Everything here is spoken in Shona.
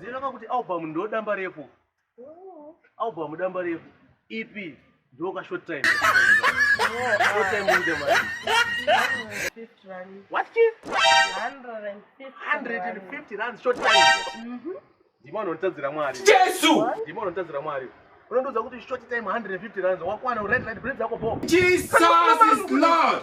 Zina kakuti album ndo damba refu. Album damba refu. EP ndo ka short time. Short time in the month. What ki? 150 rand short time. Mhm. Ndimo anotadzira mwari. Jesu! Ndimo anotadzira mwari. Unondoza kuti short time 150 rand wakwana red light bread zako bo. Jesus is Lord.